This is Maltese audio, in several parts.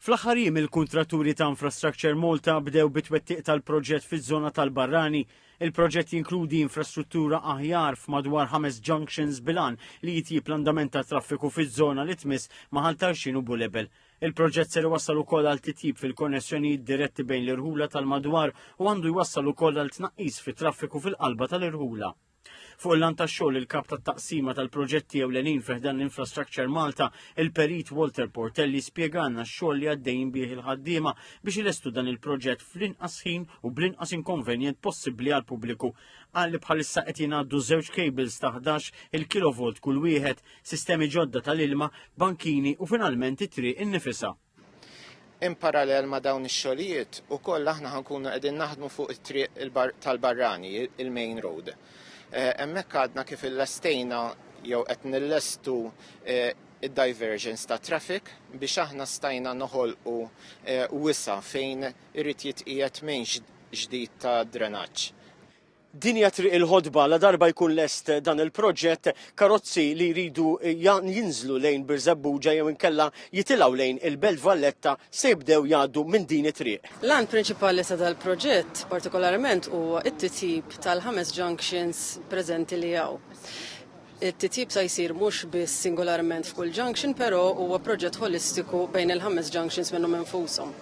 Fl-aħħar jiem il-kuntratturi ta' Infrastructure Malta bdew bit-twettiq tal-proġett fiż-żona tal-Barrani. Il-proġett jinkludi infrastruttura aħjar f'madwar ħames junctions bil-għan li jitjieb l-andament tat-traffiku fiż-żona li tmiss ma' Ħal Tarxien u Bulebel. Il-proġett ser iwassal ukoll għal titjib fil-konnessjonijiet diretti bejn l-irħula tal-madwar u għandu jwassal ukoll għal tnaqqis fit-traffiku fil-qalba tal-irħula. Fuq il-lan ta' xogħol il-kap ta' taqsima tal-proġetti ewlenin fiħdan l-Infrastructure Malta, il-perit Walter Portelli spjegana x-xogħol li għaddejn bih il-ħaddiema biex ilestu dan il-proġett fl-inqas ħin u bl-inqas inkonvenjent possibbli għal pubbliku. Qal li bħalissa qed jingħaddu żewġ cables ta' 11 il-kilovolt kull wieħed, sistemi ġodda tal-ilma, bankini u finalment it-triq innifisha. In parallel ma' dawn ix-xogħlijiet ukoll aħna ħa nkunu qegħdin naħdmu fuq it-triq tal-barrani, il-main road. Hemmhekk għadna kif illestejna jew qed nillestu id-diversions ta' traffic biex aħna stajna noħolqu wisa' fejn irid jitqiegħed main ġdid ta' drenaġġ. Din hija Triq il-Ħodba, ladarba jkun lest dan il-proġett, karozzi li jridu jinżlu lejn Birżebbuġa jew inkella jitilgħu lejn il-Belt Valletta se jibdew jgħaddu minn din it-triq. L-għan prinċipali ta' dal-proġett partikolarment huwa t-titjib tal-ħames junctions preżenti li hawn. It-titjib sa jsir mhux biss singolarment f'kull junction però huwa proġett ħolistiku bejn il-ħames junctions minnhom infushom.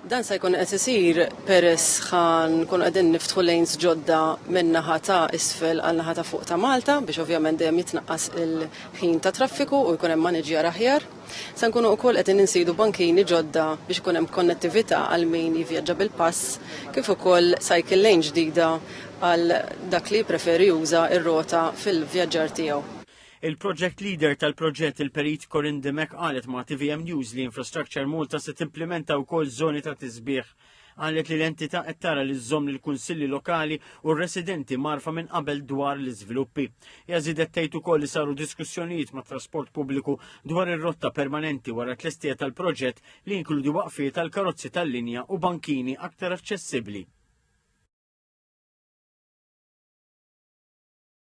Dan sa jkun qed isir peress ħa nkunu qegħdin niftħu lanes ġodda minn naħa ta' isfel għal naħa ta' fuq ta' Malta biex ovvjament dejjem jitnaqqas il-ħin ta' traffiku u jkun hemm maniġjar aħjar. Se nkunu wkoll qed insidu bankini ġodda biex ikun hemm konnettività għal min jivvjaġġa bil-pass, kif ukoll cycle lane ġdida għal dak li jippreferi juża r-rota fil-vjaġġar tiegħu. Il-Project Leader tal-proġett, il-Perit Corinne Dimech qalet ma' tvm News li Infrastructure Malta se timplimenta wkoll żoni ta' tisbiħ Qalet li l-entità qed tara li żżomm lill-kunsilli lokali u r-residenti marfa minn qabel dwar l-iżviluppi. Hija żiedet tgħid ukoll li saru diskussjonijiet mat-trasport pubbliku dwar ir-rotta permanenti wara t-tlestija tal-proġett li jinkludi waqfiet għal karozzi tal-linja u bankini aktar aċċessibbli.